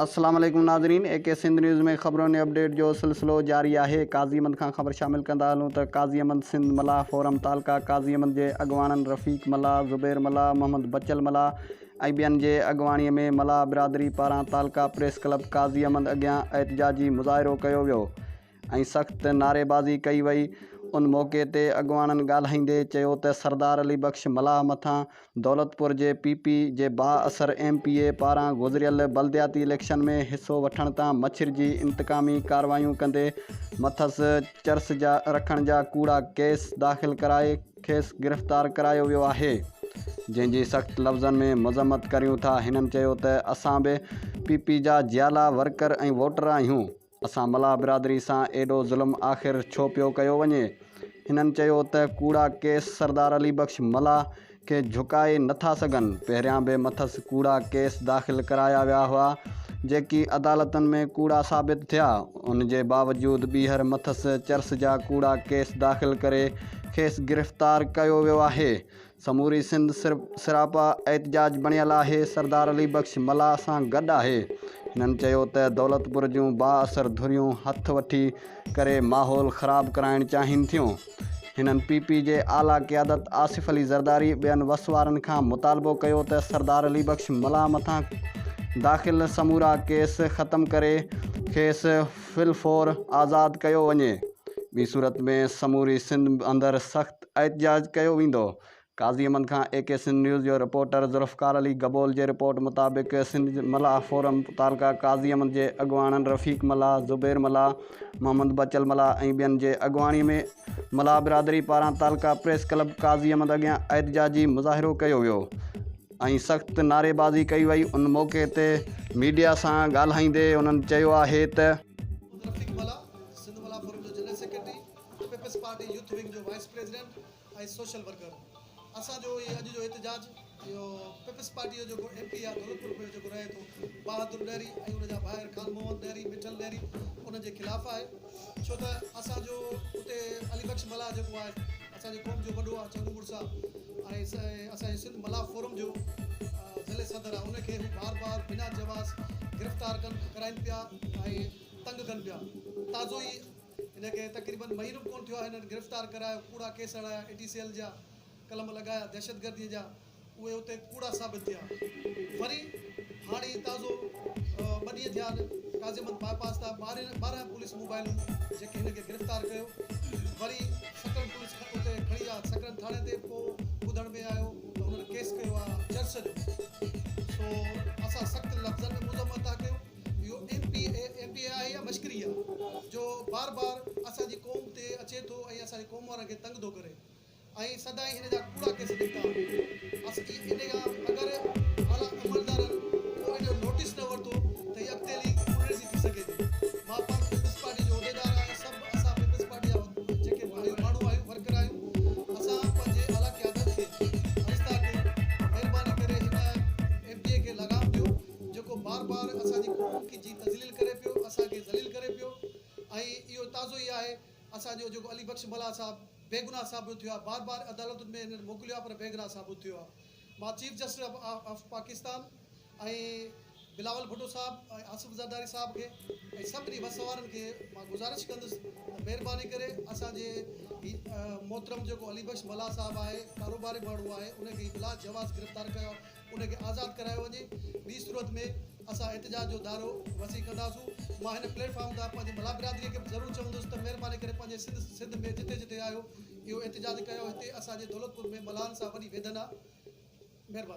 السلام عليڪم ناظرين اي ڪي سنڌ نيوز ۾ خبرن ۽ اپڊيٽ جو سلسلو جاري آهي قاضي احمد کان خبر شامل ڪندا هلون ته قاضي احمد سنڌ ملاح فورم تعلقه قاضي احمد جي اڳواڻن رفيق ملاح زبير ملاح محمد بچل ملاح ۽ ٻين جي اڳواڻي ۾ ملاح برادري پاران تعلقه پريس ڪلب قاضي احمد اڳيان احتجاجي مظاهرو ڪيو ويو ۽ سخت نعريبازي ڪئي وئي. ان موقعي تي اڳواڻن ڳالهائيندي چيو ته سردار علي بخش ملاح مٿان دولتپور جي پي پي جي بااثر ايم پي اي پاران گذريل بلدياتي اليڪشن ۾ حصو وٺڻ تان مڇرجي انتقامي ڪارروايون ڪندي مٿس چرس جا رکڻ جا ڪوڙا ڪيس داخل ڪرائي کيس گرفتار ڪرايو ويو آهي جنهن جي سخت لفظن ۾ مذمت ڪريون ٿا هنن چيو ته اسان به پي پي جا جيالا ورڪر ۽ ووٽر آهيون. اسان ملاح برادري سان ايڏو ظلم آخر ڇو پيو ڪيو وڃي؟ هنن چيو ته ڪوڙا ڪيس سردار علي بخش ملاح کي جهڪائي نه ٿا سگهن، پهريان به مٿس ڪوڙا ڪيس داخل ڪرايا ويا هئا، جيڪي عدالتن ۾ ڪوڙا ثابت ٿيا، ان جي باوجود ٻيهر مٿس چرس جا ڪوڙا ڪيس داخل ڪري کيس گرفتار ڪيو ويو آهي، سموري سنڌ سراپا احتجاج بڻيل آهي، سردار علي بخش ملاح سان گڏ آهي. هنن چيو ته دولتپور جون بااثر ڌريون هٿ وٺي ڪري ماحول خراب ڪرائڻ چاهين ٿيون. هنن پي پي جي اعليٰ قيادت آصف علي زرداري ٻين وس وارن کان مطالبو ڪيو ته سردار علي بخش ملاح مٿان داخل سمورا ڪيس ختم ڪري کيس في الفور آزاد ڪيو وڃي ٻي صورت ۾ سموري سنڌ اندر سخت احتجاج ڪيو ويندو. قاضي امن کان اي ڪي سنڌ نيوز جو رپورٽر ذوالفقار علي گبول جي رپورٽ مطابق سنڌ ملاح فورم متعلقه قاضي امن جي اڳواڻن رفيق ملاح، زبير ملاح، محمد بچل ملاح ۽ ٻين جي اڳواڻي ۾ ملاح برادري پاران تعلقه پريس ڪلب قاضي امن اڳيان احتجاجي مظاهرو ڪيو ويو ۽ سخت نعريبازي ڪئي وئي ان موقعي تي ميڊيا سان ڳالهائيندي انهن چيو آهي ته. پيپلز پارٽي يوٿ ونگ جو وائيس پريزيڊنٽ ۽ سوشل ورڪر اسان جو هي اڄ جو احتجاج اهو پيپلز پارٽي جو جيڪو ايم پي آ ڌولپور ۾ جيڪو رهي ٿو بهادر ڏهري ۽ ان جا ڀائر خان محمد ڏهري مٺل ڏهري ان جي خلاف آهي ڇو ته اسان جو اتي علي بخش ملاح جيڪو آهي اسان جي قوم جو وڏو آهي چڱو مڙس آهي ۽ اسان جو سنڌ ملاح فورم جو ضلعي صدر آهي ان کي هو بار بار بنا جواز گرفتار ڪن ڪرائن پيا ۽ تنگ ڪن پيا تازو ئي هن کي تقريبن مهينو به ڪونه ٿيو آهي هنن گرفتار ڪرايو ڪوڙا ڪيس هڻايا اي ٽي سي ايل جا قلم لڳايا دهشتگردي جا اهي اتي ڪوڙا ثابت ٿيا وري هاڻي هي تازو ٻه ڏينهن ٿيا آهن قاضي احمد باء پاس تان ٻارهن ٻارهن پوليس موبائلون جيڪي هن کي گرفتار ڪيو وري سڪرن پوليس اتي کڻي ويا سڪرن ٿاڻي تي پوء ٻڌڻ ۾ آيو ته هنن ڪيس ڪيو آهي چرس جو سو اسان سخت لفظن ۾ مذمت ٿا ڪيون اهو M P A M P A آهي يا مشڪري آهي جو بار بار اسان جي قوم تي اچي ٿو ۽ اسان جي قوم وارن کي تنگ ٿو ڪري ۽ سدائين هن جا ڪوڙا ڪيس نڪتا آهن ان کان اگر اعليٰ عملدارن ڪو ان جو نوٽيس نه ورتو ته هي اڳتي هلي ڪوڙڻي ٿي ٿي سگهي ٿي مان پڻ پيپلز پارٽي جو عهديدار آهيان سڀ اسان پيپلز پارٽي جا جيڪي ڀائيون ماڻهو آهيون ورڪر آهيون اسان پنهنجي اعليٰ قيادت کي عرض ٿا ڪيون مهرباني ڪري هن ايم پي اي کي لغام ڏيو جيڪو بار بار اسان جي قوم کي جي تذليل ڪري پيو اسان کي ذليل ڪري پيو ۽ اهو تازو ئي آهي اسان جو جيڪو علي بخش ملاح صاحب بيگناھ ثابت ٿيو آهي بار بار عدالتن ۾ هنن موڪليو آهي پر بيگناھ ثابت ٿيو آهي مان chief justice of of Pakistan ۽ Bilawal Bhutto Sahib ۽ Asif Zardari صاحب کي ۽ سڀني وس وارن کي مان گذارش ڪندس ته مهرباني ڪري اسان جي هي محترم جيڪو علي بخش ملاح صاحب آهي ڪاروباري ماڻهو آهي ان کي بلا جواز گرفتار ڪيو ان کي آزاد ڪرايو وڃي، ٻي صورت ۾ اسان احتجاج جو دائرو وسيع ڪنداسون، مان هن پليٽ فارم تان پنهنجي ملاح برادري کي به ضرور چوندس ته مهرباني ڪري پنهنجي سنڌ سنڌ ۾ جتي جتي آهيو اهو احتجاج ڪيو هتي اسان جي دولتپور ۾ ملاحن سان وڏي ويڌن آهي مهرباني.